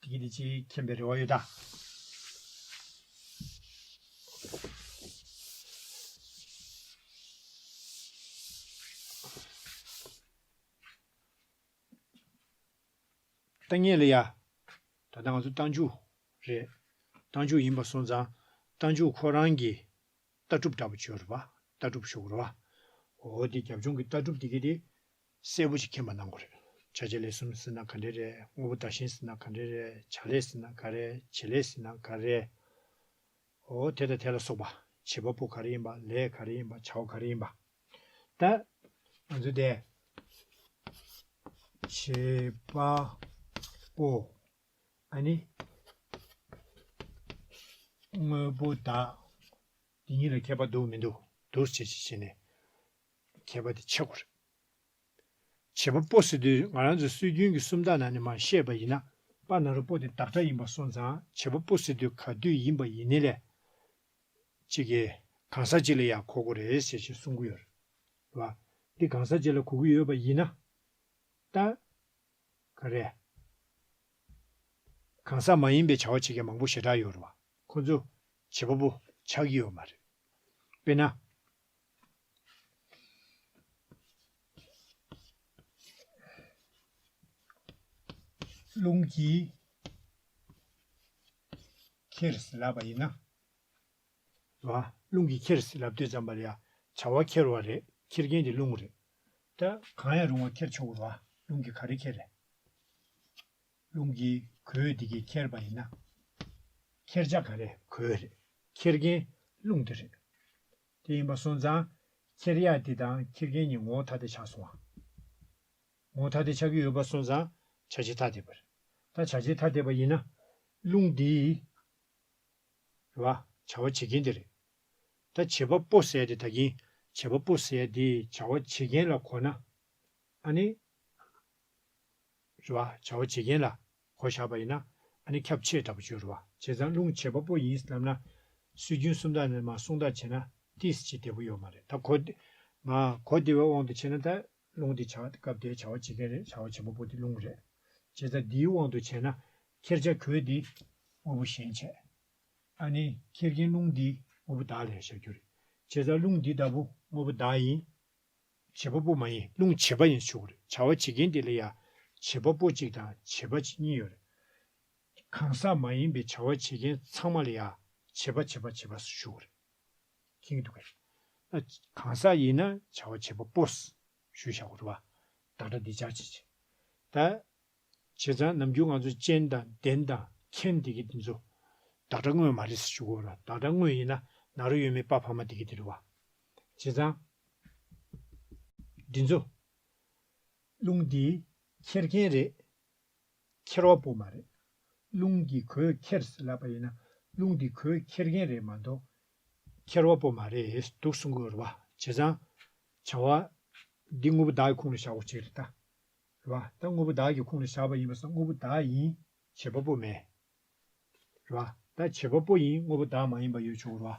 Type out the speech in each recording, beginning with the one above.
དེ་གཉིས་ལས་ཅི་ཡིས་མཁྱེན་པའི་རེ་བ་ཡོད་དམ། ལྟ་ངན་ལ་ཡ། ད་ལྟ་ང་ཚོ་རྟ་མཇུག་རེད། རྟ་མཇུག་ཡིན་པ་སོང་ཙང་རྟ་མཇུག་ཁོ་རང་གི་ལྟ་གྲུབ་འདྲ་པོ་བྱོས་རོགས་པ་ལྟ་གྲུབ་ཤོར་གོ་རོགས་པ། འོ་དེ་རྒྱབ་ལྗོངས་ཀྱི་ལྟ་གྲུབ་དེ་གས་དེ་གསལ་པོ་ཞིག་མཁྱེན་པ་གནང་དགོས་རེད། བྱ་བྱེད་ལས་གསུམ་ཟེར་ན་ག་འདྲས་རེད་དངོས་པོ་བདག་གཞན་ཟེར་ན་ག་འདྲས་རེད་བྱ་ལས་ཟེར་ན་ག་རེད་བྱེད་ལས་ཟེར་ན་ག་རེད། ཨོ་དེ་དང་དེ་ལ་སོགས་པ། བྱེད་པ་པོ་ག་རེ་ཡིན་པ་ལས་ག་རེ་ཡིན་པ་བྱ་བ་ག་རེ་ཡིན་པ། ད། ང་ཚོས་དེ། བྱེད་པ་པོ། ཨ་ནི། དངོས་པོ་བདག། འདི་གཉིས་ལ་ཁྱད་པར་འདུག་མི་འདུག་བསྡུར་བྱེད་ཅིག་བྱས་ནས། མཁས་པ་དེ་ཆེ་བ་རེད། བྱེད་པ་པོ་སི་ཏུས་ང་རང་ཚོའི་སྲོལ་རྒྱུན་གྱི་སུམ་རྟགས་ནང་ནས་མ་བཤད་པ་ཡིན་ན། པ་ན་རོ་པོ་དེ་བདག་སྒྲ་ཡིན་པ་སོང་ཙང་བྱེད་པ་པོ་སི་ཏུས་ག་དུས་ཡིན་པ་ཡིན་ནི་ལས། གཅིག་གིས་གང་ཟག་གཅིག་ལ་ཡང་གོ་གོ་རེད་ཟེར་བཞིན་གསུང་གི་ཡོད་རེད། བ་འདི་གང་ཟག་གཅིག་ལ་གོ་གི་ཡོད་པ་ཡིན་ན། ད། ག་རེད། གང་ཟག་མ་ཡིན་པའི་བྱ་བ་བྱེད་མཁན་མང་པོ་ཞེ་དྲག་ཡོད་རེད་བ། ཁོ་ཚོ། བྱེད་པ་པོ་ཆགས་ཀྱི་ཡོད་མ་རེད། དཔེར་ན། རླུང་གིས་ཁྱེར་ཟིན་ལབ་པ་ཡིན་ན། བ། རླུང་གིས་ཁྱེར་ཟིན་ལབ་དུས་ཙམ་པར་ཡང་བྱ་བ་ཁྱེར་བ་རེད་ཁྱེར་མཁན་གྱི་རླུང་རེད། ད། གང་ཡང་རུང་བ་ཁྱེར་ཆོག་གོ། བ། རླུང་གིས་ག་རེ་ཁྱེར་རེད། རླུང་གིས་གོས་དེ་གས་ཁྱེར་པ་ཡིན་ན། ཁྱེར་བྱ་ག་རེད་གོས་རེད་ཁྱེར་མཁན་རླུང་དེ་རེད། དེ་ཡིན་པ་སོང་ཙང། ཁྱེར་ཡག་དེ་དང་ཁྱེར་མཁན་གཉིས་ངོ་བོ་ཐ་དད་ཆགས་སོང་བ། ངོ་བོ་ཐ་དད་ཆགས་ཀྱི་ཡོད་པ་སོང་ཙང་བྱ་བྱེད་ཐ་དད་པར། ད་བྱ་བྱེད་ཐ་དད་པ་ཡིན་ན། རླུང་འདིས། རེད་བ། བྱ་བ་བྱེད་མཁན་དེ་རེད། ད་བྱེད་པ་པོ་ཟེར་དེ་ད་གིན་བྱེད་པ་པོ་ཟེར་དེས་བྱ་བ་བྱེད་མཁན་ལ་གོ་ན། ཨ་ནི། རེད་བ། བྱ་བ་བྱེད་མཁན་ལ། གོ་བཞག་པ་ཡིན་ན། ནི་ཁྱབ་ཆེས་དྲག་པོ་སྤྱོད་རུང་བ་བྱས་ཙང་རླུང་བྱེད་པ་པོ་ཡིན་སྙམ་ན། སྲོལ་རྒྱུན་སུམ་རྟགས་ནས་མ་གསུང་རྟགས་བྱས་ན་ཏིས་བྱེད་བདེ་པོ་ཡོད་མ་རེད་ད་གོ། ང། གོ་བདེ་བའི་དབང་དུ་བྱས་ན་ད། རླུང་དེ་བྱ་བ་སྐབས་དེའི་བྱ་བ་བྱེད་མཁན་རེད་བྱ་བ་བྱེད་པ་པོ་དེ་རླུང་རེད། བྱས་ཙང་དེའི་དབང་དུ་བྱས་ན། ཁྱེར་བྱ་གོས་དེ། དངོས་པོ་གཞན་བྱས། ནི། ཁྱེར་མཁན་རླུང་དེ། དངོས་པོ་བདག་ལས་བྱ་རྒྱུ་རེད། བྱས་ཙང་རླུང་དེ་ད་བུ་དངོས་པོ་བདག་ཡིན། བྱེད་པ་པོ་མ་ཡིན་རླུང་བྱེད་པ་ཡིན་ཆོག་གོ་རེད་བྱ་བ་བྱེད་མཁན་དེ་ལ་ཡང་བྱེད་པ་པོ་གཅིག་དང་བྱེད་པ་གཅིག་གཉིས་ཡོད་རེད། གང་ཟག་མ་ཡིན་པའི་བྱ་བ་བྱེད་མཁན་ཚང་མ་ལ་ཡང་བྱེད་པ་བྱེད་པ་བྱེད་པ་ཞུ་གོ་རེད། ཁེངས་འདུག་གས། གང་ཟག་ཡིན་ན་བྱ་བ་བྱེད་པ་པོ། ཞུ་བྱ་གོ་རེད་བ། བདག་སྒྲ་འདི་སྦྱར་བྱེད་བྱེད། ད། བྱས་ཙང་ནམ་རྒྱུན་ང་ཚོ་ཅན་དང་བདེན་དང་མཁྱེན་དེ་གས་དེ་ཚོ། བདག་སྒྲ་དངོས་མ་རེད་ཟེར་ཞུ་གོ་རེད་བ། བདག་སྒྲ་དངོས་ཡིན་ན་ན་རོ་ཡོད་མེད་དཔའ་བར་མ་དེ་གས་དེ་རེད་བ། བྱས་ཙང། འདི་ཚོ། རླུང་འདིས་འཁྱེར་མཁན་རེད། འཁྱེར་བ་པོ་མ་རེད། རླུང་གིས་གོས་འཁྱེར་ཟེར་ལབ་པ་ཡིན་ན་རླུང་འདིས་གོས་འཁྱེར་མཁན་རེད་མ་གཏོགས། འཁྱེར་བ་པོ་མ་རེད་འདུག་གསུང་གི་རེད་བ། བྱས་ཙང། བྱ་བ། འདི་དངོས་པོ་བདག་གི་ཁུངས་ལ་བཞག་པ་ཅིག་རེད་ད། རེད་བ། ད་དངོས་པོ་བདག་གི་ཁུངས་ལ་བཞག་པ་ཡིན་པ་ས་དངོས་པོ་བདག་ཡིན། བྱེད་པ་པོ་མེད། རེད་བ། ད་བྱེད་པ་པོ་ཡིན་དངོས་པོ་བདག་མ་ཡིན་པ་ཡོད་ཆོག་རེད་བ།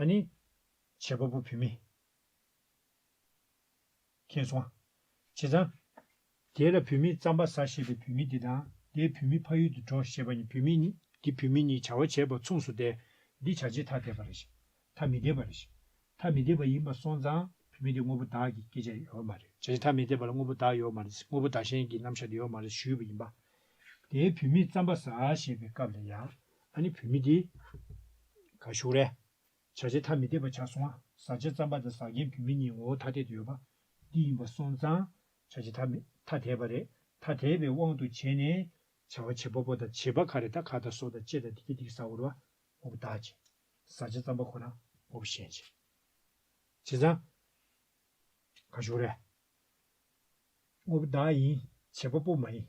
ཨ་ནི། བྱེད་པ་པོ་བུད་མེད། མཁྱེན་སོང། བྱེད་ཙང། དེ་ལ་བུད་མེད་ཙམ་པ་ཟ་ཞེས་པའི་བུད་མེད་དེ་དང་དེས་བུད་མེད་ཕ་ཡུལ་དུ་འགྲོ་ཞེས་པ་ནི་བུད་མེད་ནི། འདི་བུད་མེད་ནི་བྱ་བ་བྱེད་པ་མཚུངས་སུ་སྟེ། འདི་བྱ་བྱེད་ཐ་དད་པ་རེད་ཤི། ཐ་མི་དད་པ་རེད་ཤི། ཐ་མི་དད་པ་ཡིན་པ་སོང་ཙང་བུད་མེད་དེ་དངོས་པོ་བདག་གི་སྐད་ཆ་ཡོད་མ་རེད་བྱ་བྱེད་ཐ་མི་དད་པ་ལ་དངོས་པོ་བདག་ཡོད་མ་རེད་དངོས་པོ་བདག་གཞན་གྱི་རྣམ་གཞག་དེ་ཡོད་མ་རེད་ཞུས་པ་ཡིན་པ། དེས་བུད་མེད་ཙམ་པ་ཟ་ཞེས་པའི་སྐབས་ལ་ཡང། ཨ་ནི་བུད་མེད་འདི། ག་བཞུགས་རས། བྱ་བྱེད་ཐ་མི་དད་པ་བྱ་སོང་བ། ཟ་བྱེད་རྩམ་པ་དང་ཟག་རྒྱན་བུད་མེད་གཉིས་ངོ་བོ་ཐ་དད་དུ་ཡོད་པ། འདི་ཡིན་པ་སོང་ཙང། བྱ་བྱེད་ཐ་མི། ཐ་དད་པ་རེད། ཐ་དད་པའི་དབང་དུ་བྱས་ནས། བྱ་བ་བྱེད་པ་པོ་དང་བྱེད་པ་ཁ་རེ་ད་ཁ་ད་སོ་ད་ཅེ་ད་དི་ཀྱེ་དིག་ཟ་བོར་བ། ངོ་བོ་བདག་བྱེད། ཟ་བྱེད་རྩམ་པ་ཁོ་ན། ངོ་བོ་གཞན་བྱེད། བྱེད་ཙང། ག་བཞུགས་རས། ངོ་བོ་བདག་ཡིན། བྱེད་པ་པོ་མ་ཡིན།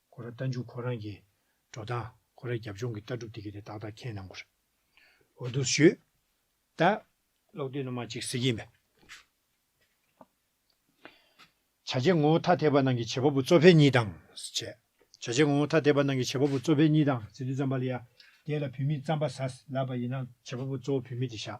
ཁོ་ར་རྟ་མཇུག་ཁོ་རང་གིས་འགྲོ་སྟངས་ཁོ་ར་རྒྱབ་ལྗོངས་ཀྱི་ལྟ་གྲུབ་དེ་གི་དེ་ཏག་ཏག་མཁྱེན་གནང་དགོས་རེད་འོ་དུ་ཞུས་ད། གློག་རྡུལ་ནུ་མ་གཅིག་གཟིགས་ཡིན་པས། བྱ་བྱེད་ངོ་བོ་ཐ་དད་པ་ནང་གི་བྱེད་པ་པོ་གཙོ་ཕལ་གཉིས་དང། བྱེད་བྱེད་ངོ་བོ་ཐ་དད་པ་ནང་གི་བྱེད་པ་པོ་གཙོ་ཕལ་གཉིས་དང་ཟེར་དུས་རྩམ་པ་ལ་ཡ་དེ་ལ་བུད་མེད་རྩམ་པ་ཟ་ལབ་པ་ཡིན་ན་བྱེད་པ་པོ་གཙོ་བོ་བུད་མེད་དེ་བཞག་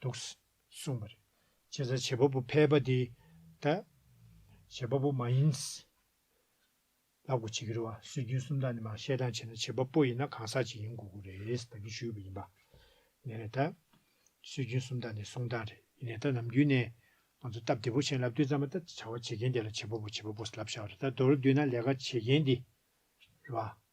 འདུག། གསུངས་པ་རེད། བྱས་ཙང་བྱེད་པ་པོ་ཕལ་པ་དེ་དང། བྱེད་པ་པོ་མ་ཡིན། ལ་གོ་བྱེད་ཀྱི་རེད་བ། སྲོལ་རྒྱུན་སུམ་རྟགས་ནི་མ་ཤེས་སྟངས་བྱས་ན་བྱེད་པ་པོ་ཡིན་ན་གང་ཟག་ཅིག་ཡིན་དགོས་ཀྱི་རེད་བདག་གིས་ཞུས་པ་ཡིན་པ། ནས་ད། སྲོལ་རྒྱུན་སུམ་རྟགས་ནི་གསུང་སྟངས་རེད། ནས་ད་ནམ་རྒྱུན་ནས། ང་ཚོ་སྟབས་བདེ་པོ་བྱས་ན་ལབ་དུས་ཙམ་མ་ད་བྱ་བ་བྱེད་མཁན་དེ་ལ་བྱེད་པ་པོ་བྱེད་པ་པོ་ལབ་བྱ་བ་རེད་ད་མདོར་བསྡུས་ན་ལས་ཀ་བྱེད་མཁན་དེ་རེད་བ།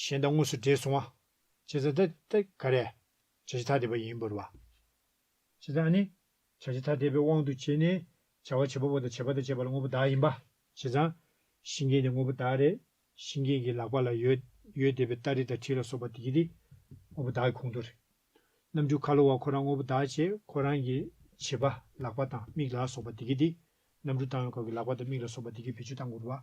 གཞན་དང་དངོས་སུ་འདྲེས་སོང་བ། བྱེད་ཚ་ད་ད་ག་རེ། བྱ་བྱེད་ཐ་དད་པ་ཡིན་བོར་བ། བྱེད་ཚ་ནི། བྱ་བྱེད་ཐ་དད་པའི་དབང་དུ་བྱས་ནས། བྱ་བ་བྱེད་པ་པོ་དང་བྱེད་པ་དང་བྱེད་པ་ལ་དངོས་པོ་བདག་ཡིན་པ། བྱེད་ཚ། ཤིང་རྒན་ནི་དངོས་པོ་བདག་རེད། ཤིང་རྒན་གྱི་ལག་པ་ལ་ཡོད། ཡོད་བསྡད་པའི་སྟ་རེ་དང་ཁྲི་ལ་སོགས་པ་དེ་གྱི་དེ། དངོས་པོ་བདག་གི་གོང་དུ་རེད། རྣམ་འགྱུར་ཁ་ལོ་བ་ཁོ་རང་དངོས་པོ་བདག་བྱེད་ཁོ་རང་གི། བྱེད་པ། ལག་པ་དང་མིག་ལ་སོགས་པ་དེ་གྱི་དེ། རྣམ་འགྱུར་བཏང་བའི་སྐབས་ཀྱི་ལག་པ་དང་མིག་ལ་སོགས་པ་དེ་གྱི་བེད་སྤྱོད་སྟངས་སྐོར་བ།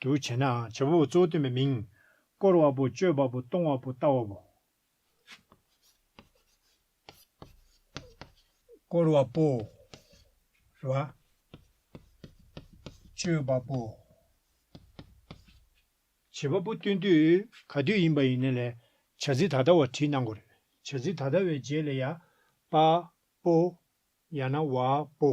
དུ་བྱས་ནའང་བྱེད་པ་པོ་གཙོ་བོ་སྟོན་པའི་མིང། བསྐོར་བ་པོ་སྤྱོད་པ་པོ་གཏོང་བ་པོ་ལྟ་བ་པོ། བསྐོར་བ་པོ། རེ་བ། སྤྱོད་པ་པོ། བྱེད་པ་པོ་སྟོན་དུས་ག་དུས་ཡིན་པ་ཡིན་ན་ལས། བྱ་ཚིག་ད་ལྟ་བ་བྲིས་གནང་གོ་རེ། བྱ་ཚིག་ད་ལྟ་བའི་རྗེས་ལས་ཡ། པ། པོ། ཡང་ན་བ། པོ།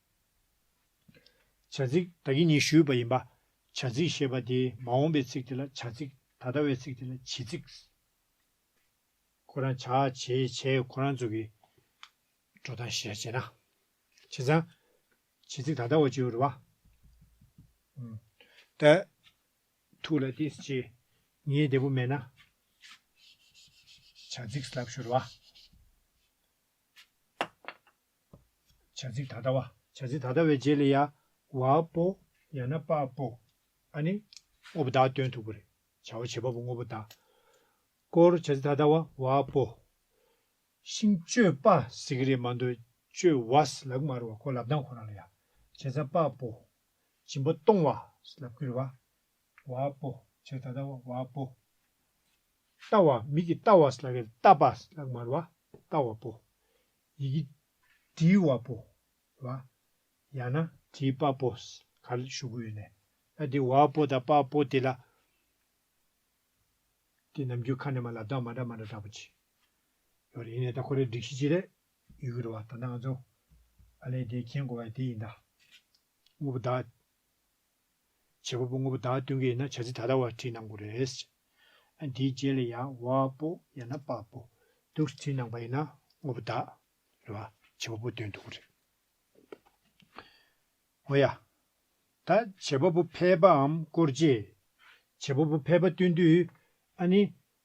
བྱ་ཚིག་བདག་གིས་ནི་ཞུས་པ་ཡིན་པ། བྱ་ཚིག་ཞེས་པ་དེ་མ་འོངས་པའི་ཚིག་དེ་ལ་བྱ་ཚིག་ད་ལྟ་བའི་ཚིག་དེ་ལ་བྱེད་ཚིག། ཁོ་རང་བྱ་བྱེད་བྱས་ཁོ་རང་ཚོ་གི་འགྲོ་སྟངས་ཤེས་བྱས་ན། བྱས་ཙང། བྱེད་ཚིག་ད་ལྟ་བ་ཅེའུ་རུ་བ། ཏེ། ཐུགས་ལ་ཏི་སི་ཅི། ངའི་བདེ་པོ་མེད་ན། བྱ་ཚིག་སླབ་ཞུ་རུ་བ། བྱ་ཚིག་ད་ལྟ་བ། བྱ་ཚིག་ད་ལྟ་བའི་རྗེས་ལ་ཡ། བ་པོ། ཡང་ན་པ་པོ། ཨ་ནི། དངོས་པོ་དག་སྟོན་ཐུབ་པ་རེད། བྱ་བ་བྱེད་པ་པོ་དངོས་པོ་དག། སྐོར་བྱ་ཚིག་ད་ལྟ་བ། བ་པོ། ཤིང་གཅོད་པ་ཟེར་གི་རེད་མ་འདུག་གཅོད་བ། ལག་མར་བ་ཁོ་ལབ་སྟངས་ཁོ་རང་ལ་ཡ། བྱེད་ས་པ་པོ། སྦྱིན་པ་གཏོང་བ། ལབ་ཀི་རེད་བ། བ་པོ། བྱ་ཚིག་ད་ལྟ་བ། བ་པོ། ལྟ་བ། མིག་གིས་ལྟ་བ། ལག་གིས་ལྟ་པ། ལག་མར་བ། ལྟ་བ་པོ། ཡི་གེ་འབྲི་བ་པོ་ལ་ཡང་ན། དེའི་པ་པོ་ག་ལ་ཞུགས་ཡོད་ནས་ཨ་དེ་བ་པོ་དང་པ་པོ་དེ་ལ་དེ་ནམ་རྒྱུན་ཁ་ནས་མ་ལ་དག་མ་འདྲ་མ་འདྲ་འདྲ་པོ་བྱས་ཡོད་རེད་ཡིན་ནས་ད་ཁོ་རེ་སྒྲིག་གཞི་ཅི་རེད་ཡོད་ཀྱི་རེད་བ་ད་ནང་ཚོ་ཨ་ལས་དེ་མཁྱེན་དགོས་བ་དེ་ཡིན་ད་དངོས་པོ་དག་བྱེད་པ་པོ་དངོས་པོ་བདག་སྟོན་གྱི་ཡིན་ན་བྱ་ཚིག་ད་ལྟ་བར་བྲིས་གནང་དགོས་རེད། འདིའི་རྗེས་ལ་ཡང་བ་པོ་ཡང་ན་པ་པོ་འདུག་བྲིས་གནང་པ་ཡིན་ན་དངོས་པོ་བདག། རེད་བ། བྱེད་པ་པོ་སྟོན་འདུག་རེད། ངོ་ཡ། ད་བྱེད་པ་པོ་ཕལ་པའམ་སྐོར་རྗེས། བྱེད་པ་པོ་ཕལ་པ་སྟོན་དུས། ཨ་ནི།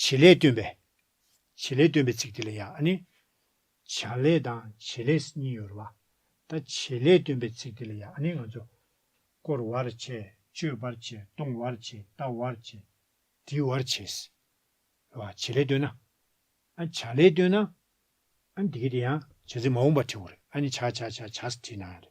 བྱེད་ལས་སྟོན་པས། བྱེད་ལས་སྟོན་པའི་ཚིག་དེ་ལ་ཡང་ཨ་ནི། བྱ་ལས་དང་བྱེད་ལས་གཉིས་ཡོད་རེད་བ། ད་བྱེད་ལས་སྟོན་པའི་ཚིག་དེ་ལ་ཡང་ཨ་ནི་ང་ཚོ། བསྐོར་བར་བྱེད། གཅོད་པར་བྱེད། གཏོང་བར་བྱེད། ལྟ་བར་བྱེད། འདྲི་བར་བྱེད། རེད་བ། བྱེད་ལས་སྟོན་ན། ཨ་ནི་བྱ་ལས་སྟོན་ན། ཨ་ནི་དེ་གས་དེ་ཡང། བྱ་ཚིག་མ་འོངས་པར་བྲི་བ་རེད། ཨ་ནི་བྱ་བྱ་བྱ་བྱ་ཟེར་བྲིས་ན་ཡང་རེད།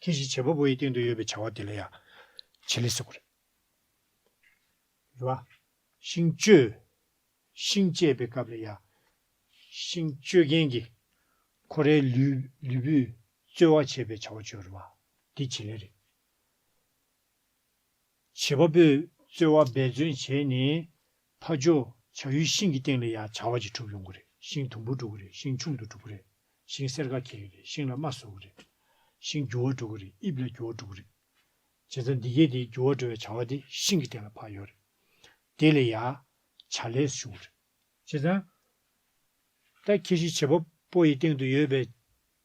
ཁྱེད་ཀྱིས་བྱེད་པ་པོ་ཡི་སྟེང་དུ་ཡོད་པའི་བྱ་བ་དེ་ལ་ཡང། བྱེད་ལས་ཟེར་བ་རེད། རེད་བ། ཤིང་གཅོད། ཤིང་གཅད་པའི་སྐབས་ལ་ཡང། ཤིང་གཅོད་མཁན་གྱིས། ཁོ་རའི་ལུས། ལུས་པོས། རྩོལ་བ་བྱེད་པའི་བྱ་བ་བྱོས་རེད་བ། འདི་བྱེད་ལས་རེད། བྱེད་པ་པོས་རྩོལ་བ་འབད་བརྩོན་བྱས་ནས། ཕ་ཇོ་བྱ་ཡུལ་ཤིང་གི་སྟེང་ལ་ཡང་བྱ་བ་གཅིག་གྲུབ་ཡོང་གི་རེད་ཤིང་དུམ་བུར་འགྲོ་གི་རེད་ཤིང་ཆུང་དུ་འགྲོ་གི་རེད་ཤིང་སེར་ཀ་གྱེས་གི་རེད་ཤིང་ལ་རྨ་བཟོ་གི་རེད། ཤིང་རྒྱུ་བ་འགྲོ་གི་རེད་དབྱིབས་ལ་རྒྱུ་བ་འགྲོ་གི་རེད། བྱེད་རྩ་འདི་གས་དེའི་རྒྱུ་བ་འགྲོ་བའི་བྱ་བ་དེ་ཤིང་གི་སྟེང་ལ་འཕགས་ཡོད་རེད། དེ་ལས་ཡང། བྱ་ལས་བྱུང་རེད། བྱེད་རྩ། ད་ཁྱེད་ཤིང་བྱེད་པ་པོ་ཡི་སྟེང་དུ་ཡོད་པའི།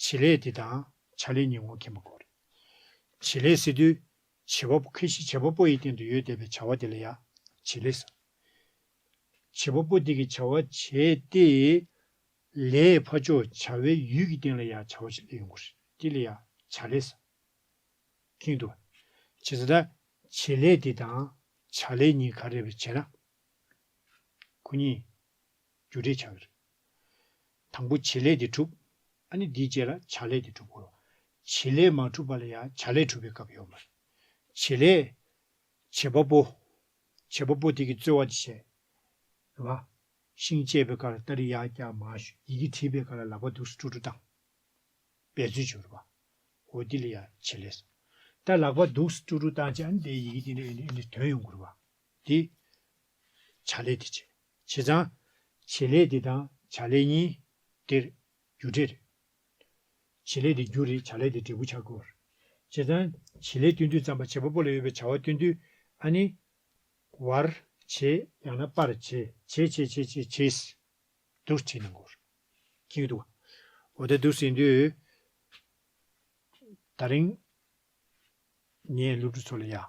བྱེད་ལས་དེ་དང་བྱ་ལས་གཉིས་ངོ་མཁྱེན་པ་དགོས་རེད། བྱེད་ལས་ཟེར་དུས། བྱེད་པ་པོ་ཁེ་ཤི་བྱེད་པ་པོ་ཡི་སྟེང་དུ་ཡོད་བསྡད་པའི་བྱ་བ་དེ་ལ་ཡང་བྱེད་ལས་ཟེར། བྱེད་པ་པོ་དེ་གིས་བྱ་བ་བྱས་ཏེ། ལས་ཕ་ཕྱོགས་བྱ་བའི་ཡུལ་གྱི་སྟེང་ལ་ཡང་བྱ་བ་བྱེད་ལས་ཡོང་གི་རེད་དེ་ལ་ཡང་བྱ་ལས་ཟེར། གིན་འདུག་བྱེད་ས་དང་བྱེད་ལས་དེ་དང་བྱ་ལས་གཉིས་ག་རེ་བས་བྱས་ན། གུ་གཉིས། རྒྱུ་འབྲས་བྱ་བའི་རིགས། དང་པོ་བྱེད་ལས་དེ་གྲུབ། ཨ་ནི་འདིའི་རྗེས་ལ་བྱ་ལས་དེ་གྲུབ་གོ། བྱེད་ལས་མ་གྲུབ་པ་ལ་ཡང་བྱ་ལས་གྲུབ་པའི་སྐབས་ཡོད་མ་རེད། བྱེད་ལས། བྱེད་པ་པོ། བྱེད་པ་པོ་དེ་གིས་རྩོལ་བ་དེ་བྱས། རེད་བ། ཤིང་བཅད་པའི་ཀར་ཏཱ་རི་ཡ་ཀྱ་མ་ཞུ་ཡི་གིས་བྲིས་པའི་ཀ་ལ་ལག་པ་དུག་སུ་ཀྲུ་ཀྲུ་བཏང། བས་རྩོལ་བྱུང་རེད་བ། འོ་འདི་ལ་ཡང་བྱེད་ལས་སོ། ད་ལག་པ་དུག་སུ་ཀྲུ་ཀྲུ་བཏང་བྱས་ཨ་ནི་དེའི་ཡི་གེ་དེ་འདྲ་ཡིན་འདྲ་ཡིན་འདྲའི་དོན་ཡོང་གོ་རེད་བ། དེ། བྱ་ལས་དེ་བྱས། བྱས་ཙང། བྱེད་ལས་འདི་དང་བྱ་ལས་གཉིས། འདིར། རྒྱུ་འབྲས། བྱེད་ལས་འདི་རྒྱུ་རེད་བྱ་ལས་འདི་འབྲས་བུ་ཆགས་སྐོར། བྱས་ཙང། བྱེད་ལས་སྟོན་དུས་ཙམ་པ་བྱེད་པ་པོ་ལ་ཡོད་པའི་བྱ་བ་སྟོན་དུས། ཨ་ནི། བར། བྱེད། ཡང་ན་པར། བྱེད། བྱེད་བྱེད་བྱེད་བྱེད་བྱེད། དུར་བྱིད་ནི་འགོར། གྱི་ཡོད། འོ་ད་དུར་བྱིད་འདི། ད་རིང། ངས་སློབ་ཕྲུག་ཚོ་ལ་ཡག།